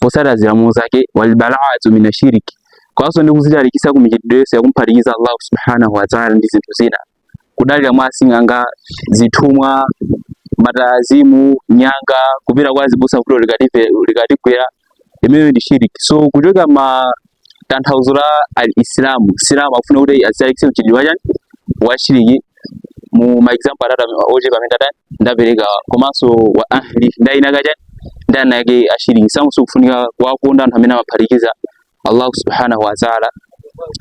potsata malamulo zake wal baraatu mina shiriki komanso ndi kuzitalikitsa ku mchitidwe yense wakumphatikiza Allah subhanahu wa ta'ala ndi zinthu zina kudalira mwa asing'anga zithumwa ma talasimu nyanga kupita kwa azibusa vuto likatigwera imeneyo ndi shiriki so kuchoka ma tanthauzo la al-Islamu Msilamu akufuna kuti azitalikitse mchitidwe wachani washiriki mu ma example atatu ochepa amene ndatani ndaperekawa komanso wa ahli ndi eni ake a chani ndi eni ake ashiriki Msilamu sukufunika kuwakonda anthu amene amaphatikiza Allah subhanahu wa ta'ala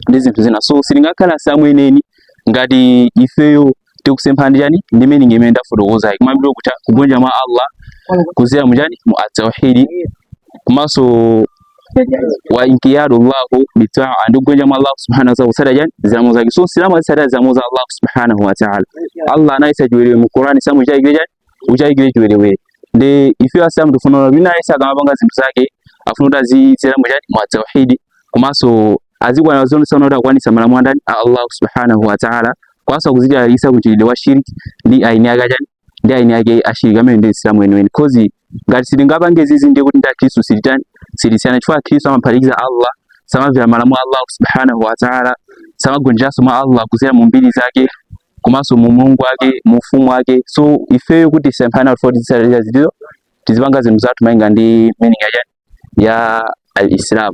ndi zinthu zina so sitingakhale Asilamu eneni ngati ifeyo tikusemphana ndi chani ndi meaning imene ndafotokozayi kumayambiriro kucha kugonja mwa Allah kuzera mu chani mu at-tauhid komanso wa inkiyadu Allahu bitaa ndi kugonja mwa Allah subhanahu wa ta'ala kusada chani zilamulo zake so silamu azisada zilamulo za Allah subhanahu wa ta'ala Allah anayisa chiwerewere mu Qur'ani samu chake chani usayandikire chiwerewere ndiye ife asilamu tifuna wina aliyense akamapanga zinthu zake afuna kuti azidzera mu chani mu at-tauhidi komanso azikwana zonse kuti akwanitse malamulo andani a Allah subhanahu wa ta'ala komanso kuzitalikitsa ku mchitidwe wa shirki ndi eni ake achani ndi eni ake ashiriki ameneyo ndi Msilamu weniweni coz ngati sitingapange izi ndiye kuti ndi Akristu sititani sitisiyana chifukwa Akristu amaphatikiza Allah samamvera malamulo a Allah subhanahu wa ta'ala samagonjeranso mwa Allah kudzera mu mbiri zake komanso mu umulungu wake mu ufumu wake so ifeyo kuti tisemphane kuti tisale zotero tizipanga zinthu zathu malinga ndi meaning ya chani ya al-Islam